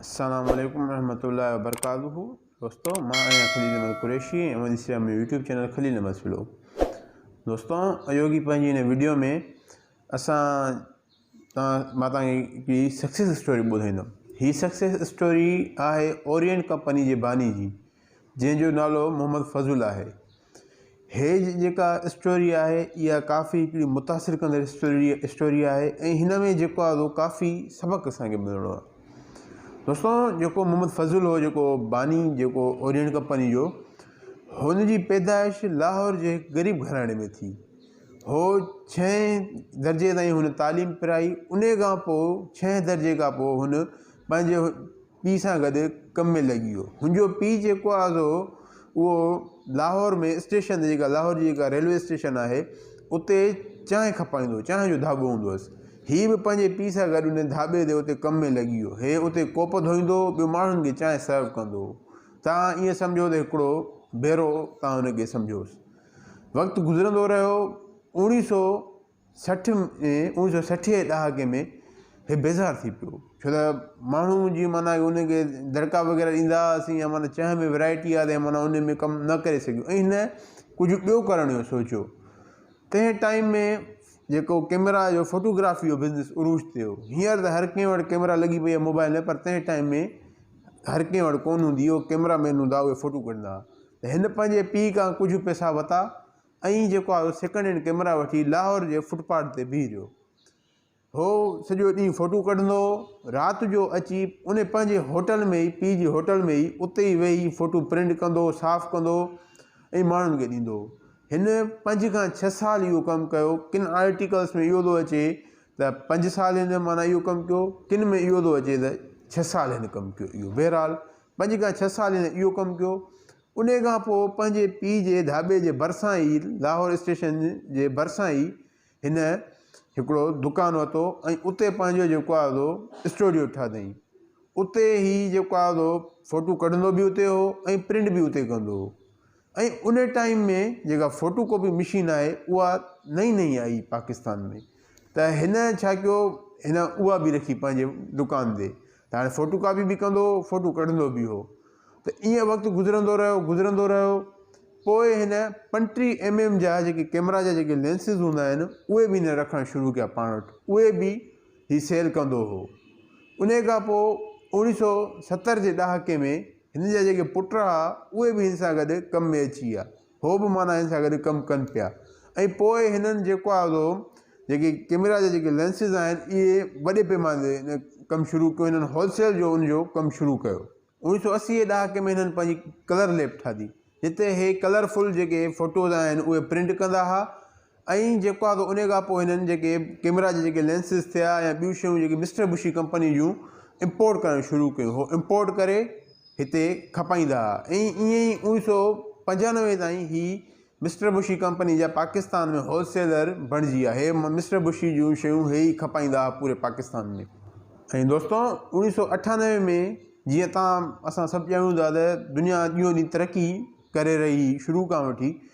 السلام عليڪم ورحمة الله وبرڪاته دوستو مان آهيان خليل احمد قريشي ۽ اوهان ڏسي رهيا مون جو يوٽيوب چينل خليل احمد فلو دوستو اهو ڪي پنهنجي هن ويڊيو ۾ اسان تان مان تان ڪي سڪسيس اسٽوري ٻڌائيندم هي سڪسيس اسٽوري آهي اورينٽ ڪمپني جي باني جي جنهن جو نالو محمد فضل آهي. هيء جيڪا اسٽوري آهي اها ڪافي هڪڙي متاثر ڪندڙ اسٽوري اسٽوري آهي ۽ هن ۾ جيڪو آهي اهو ڪافي سبق اسان کي ملڻو آهي. دوستو جيڪو محمد فضل هو جيڪو باني جيڪو اورينٽ ڪمپني جو هن جي پيدائش لاهور جي هڪ غريب گهراڻي ۾ ٿي هو ڇهين درجي تائين هن تعليم پرائي ان کان پوء ڇهين درجي کان پوء هن پنهنجي پيء سان گڏ ڪم ۾ لڳي ويو. هن جو پيء جيڪو آزو اهو لاهور ۾ اسٽيشن تي جيڪا لاهور جي جيڪا ريلوي اسٽيشن آهي اتي چانهه کپائيندو هو، چانهه جو ڌاٻو هوندو هوس. هي به پنهنجي پيء سان گڏ ان ڌاٻي تي اتي ڪم ۾ لڳي ويو. هي اتي ڪوپ ڌوئيندو هو، ٻيو ماڻهن کي چانهه سرو ڪندو هو. توهان ائين سمجهو ته هڪڙو ڀيرو توهان هن کي سمجهوس. وقت گذرندو رهيو. اوڻيهه سؤ. سٺ ۾ اوڻيھ سئو سٺيء جي ڏهاڪي ۾ هي بيزار ٿي پيو ڇو ته ماڻهو جي معنيٰ ان کي دڙڪا وغيره ڏيندا هئاسين يا معنيٰ چانهه ۾ ورايٽي آهي ته معنيٰ ان ۾ ڪم نه ڪري سگهيو ۽ هن ڪجهه ٻيو ڪرڻ جو سوچيو تنهن ٽائيم ۾ جيڪو ڪئميرا جو ڦوٽوگرافي جو بزنس عروج تي هو هينئر ته هر ڪنهن وٽ ڪئميرا لڳي پئي آهي موبائل ۾ پر تنهن ٽائيم ۾ هر ڪنهن وٽ ڪونه هوندي هو ڪئميرا مين هوندا هئا ڦوٽو ڪڍندا هئا ته هن پنهنجي پيء کان ڪجهه پئسا ورتا ائين جيڪو آيو سيڪنڊ هينڊ ڪئميرا وٺي لاهور جي فٽ پاٿ تي بيهي رهيو. هو سڄو ڏينهن فوٽو ڪڍندو هو. رات جو اچي ان پنهنجي هوٽل ۾ ئي، پيء جي هوٽل ۾ ئي، اتي ئي ويهي فوٽو پرنٽ ڪندو هو، صاف ڪندو هو ۽ ماڻهن کي ڏيندو هو. هن پنج کان ڇهه سال اهو ڪم ڪيو. ڪن آرٽيڪلز ۾ اهو ٿو اچي ته پنج سال هن معنيٰ اهو ڪم ڪيو، ڪن ۾ اهو ٿو اچي ته ڇهه سال هن ڪم ڪيو اهو. بهرحال پنج کان ڇهه سال هن اهو ڪم ڪيو. انهيء کان پوء پنهنجي پيء جي ڌاٻي جي ڀرسان ئي، لاهور اسٽيشن جي ڀرسان ئي، هن هڪڙو دڪان ورتو ۽ اتي پنهنجو جيڪو آهي سو اسٽوڊيو ٺاهيائين. اتي هي جيڪو آهي سو فوٽو ڪڍندو به اتي هو ۽ پرنٽ به اتي ڪندو هو ۽ ان ٽائيم ۾ جيڪا فوٽو ڪاپي مشين آهي، اها نئين نئين آئي هئي پاڪستان ۾، ته هن ڇا ڪيو، هن اها به رکي پنهنجي دڪان تي، ته هاڻي فوٽو ڪاپي به ڪندو هو، فوٽو ڪڍندو به هو. ته ائين وقت گذرندو رهيو، گذرندو رهيو. پوء هن پنٽيهه ايم ايم جا جيڪي ڪيمرا جا جيڪي لينسز هوندا آهن، اهي به هن رکڻ شروع ڪيا پاڻ وٽ. اهي به هي سيل ڪندو هو. انهيء کان پوء اوڻيهه سؤ ستر جي ڏهاڪي ۾ هن جا جيڪي پٽ ها، اهي به هن سان گڏ ڪم ۾ اچي ويا. هو به معنيٰ هن سان گڏ ڪم ڪن پيا ۽ پوء هنن جيڪو آهي سو جيڪي ڪيميرا جا جيڪي لينسز آهن اهي وڏي پيماني تي ڪم شروع ڪيو هنن هول سيل جو ان جو ڪم شروع ڪيو اوڻيهه سو اسي جي ڏهاڪي ۾ هنن پنهنجي ڪلر ليب ٺاهي جتي هي ڪلرفل جيڪي فوٽوز آهن اهي پرنٽ ڪندا ها ائين جيڪو آهي سو انهي کان پوء هنن جيڪي ڪيمرا جي جيڪي لينسز ٿيا يا ٻيون شيون جيڪي مسٽر بشي ڪمپني جون امپورٽ ڪرڻ شروع ڪيون هو امپورٽ ڪري هتي کپائيندا هئا ۽ ائين ئي اوڻيهه سو پنجانوي تائين هي مسٽر بشي ڪمپني جا پاڪستان ۾ هول سيلر بڻجي ويا هي مسٽر بشي جون شيون هي ئي کپائيندا هئا پوري پاڪستان ۾. ۽ دوستو اوڻيهه سو اٺانوي ۾ جيئن تان اسان سڀ ڄاڻون ٿا ته دنيا ڏينهون ڏينهن ترقي ڪري رهي شروع کان وٺي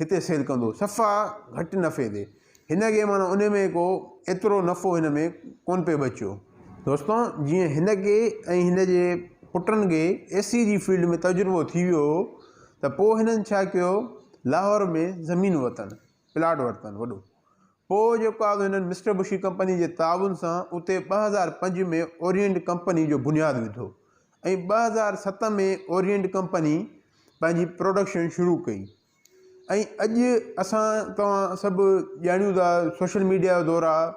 هتي سيل ڪندو صفا گهٽ نفعي تي هن کي معنيٰ ان ۾ ڪو ايترو نفعو هن ۾ ڪون پئي بچيو دوستو جيئن هن کي ۽ هن جي پٽن کي اي سي جي فيلڊ ۾ تجربو ٿي ويو هو ته پوء هنن ڇا ڪيو لاهور ۾ زمين ورتن پلاٽ ورتن وڏو پوء جيڪو آهي هنن مسٽر بشي ڪمپني جي تعاون سان اتي ٻه هزار پنج ۾ اورينٽ ڪمپني جو بنياد وڌو ۽ ٻه هزار ست ۾ اورينٽ ڪمپني پنهنجي پروڊڪشن شروع ڪئي ۽ اڄ اسان توهان سڀ ڄاڻيون ٿا سوشل ميڊيا جو دور آهي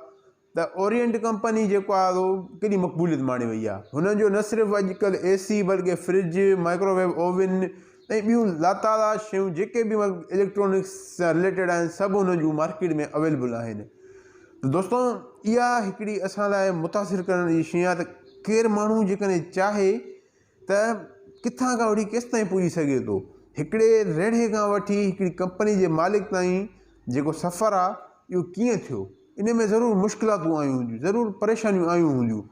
ته اورينٽ ڪمپني جيڪو آهي سو ڪيڏي مقبوليت ماڻي وئي آهي هنن جو نه صرف اڄڪلهه اي سي بلڪه فرج مائڪروويو اوون ۽ ٻيون لاتعداد شيون جيڪي به اليڪٽرانڪس سان رليٽيڊ آهن سڀ هنن جون مارڪيٽ ۾ اويلبل آهن دوستو اها هڪڙي اسان لاء متاثر ڪرڻ جي شيء آهي ته ڪير ماڻهو جيڪڏهن چاهي ته ڪٿان کان وٺي ڪيستائين پڄي سگهي ٿو هڪڙي ريڙهي کان وٺي هڪڙي ڪمپني جي مالڪ تائين جيڪو سفر آهي اهو ڪيئن ٿيو ان ۾ ضرور مشڪلاتون آيون هونديون ضرور پريشانيون آيون هونديون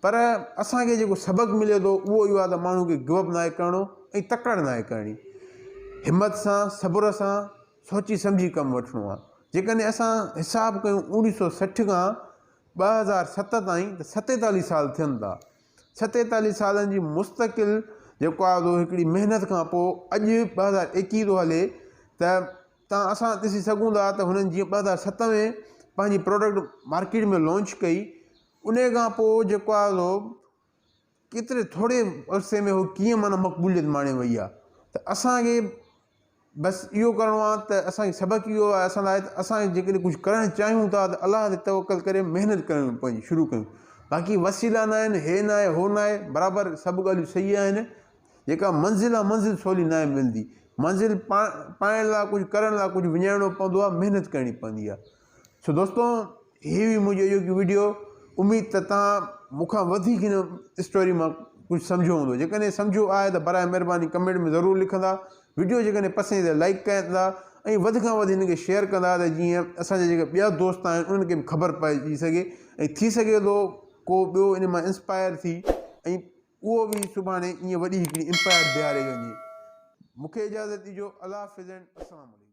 پر اسانکي جيڪو سبق ملي ٿو اهو اهو آهي ته ماڻهو کي گوء اپ ناهي ڪرڻو ۽ تڪڙ ناهي ڪرڻي همت سان صبر سان سوچي سمجهي ڪم وٺڻو آهي. جيڪڏهن اسان حساب ڪيون اوڻيهه سؤ سٺ کان ٻه هزار ست تائين ته ستيتاليهه سال ٿين ٿا. ستيتاليهه سالن جي مستقل جيڪو آهي سو هڪڙي محنت کان پوء اڄ ٻه هزار ايڪيهه ٿو هلي ته تان اسان ڏسي سگهون ٿا ته هنن جيئن ٻه هزار ست ۾ پنهنجي پروڊڪٽ مارڪيٽ ۾ لانچ ڪئي انهي کان پوء جيڪو آهي سو ڪيتري ٿوري عرصي ۾ هوء ڪيئن معنيٰ مقبوليت ماڻي وئي آهي ته اسان کي بس اهو ڪرڻو آهي ته اسان کي سبق اهو آهي اسان لاء ته اسان جي ڪڏهن ڪجهه ڪرڻ چاهيون ٿا ته الله تي توڪل ڪري محنت ڪرڻ پنهنجي شروع ڪيون باقي وسيلا نه آهن هي نه آهي هو نه آهي برابر سڀ ڳالهيون صحيح آهن جيڪا منزل آهي منزل سولي ناهي ملندي منزل پا پائڻ لاء ڪجهه ڪرڻ لاء ڪجهه وڃائڻو پوندو آهي محنت ڪرڻي پوندي آهي سو دوستو هي هئي منهنجي اڄوڪي ويڊيو اميد ته تان مون کان وڌيڪ هن اسٽوري مان ڪجهه سمجهيو هوندو جيڪڏهن سمجهيو آهي ته برائي مهرباني ڪمينٽ ۾ ضرور لکندا ويڊيو جيڪڏهن پسند ايندي لائڪ ڪندا ۽ وڌ کان وڌ هن کي شيئر ڪندا ته جيئن اسان جا جيڪي ٻيا دوست آهن انهن کي به خبر پئجي سگهي ۽ ٿي سگهي ٿو ڪو ٻيو ان مان انسپائر ٿي ۽ اهو به سڀاڻي ائين وڏي هڪڙي امپائر بيهاري وڃي مون کي اجازت ڏجو الله حافظ السلام عليڪم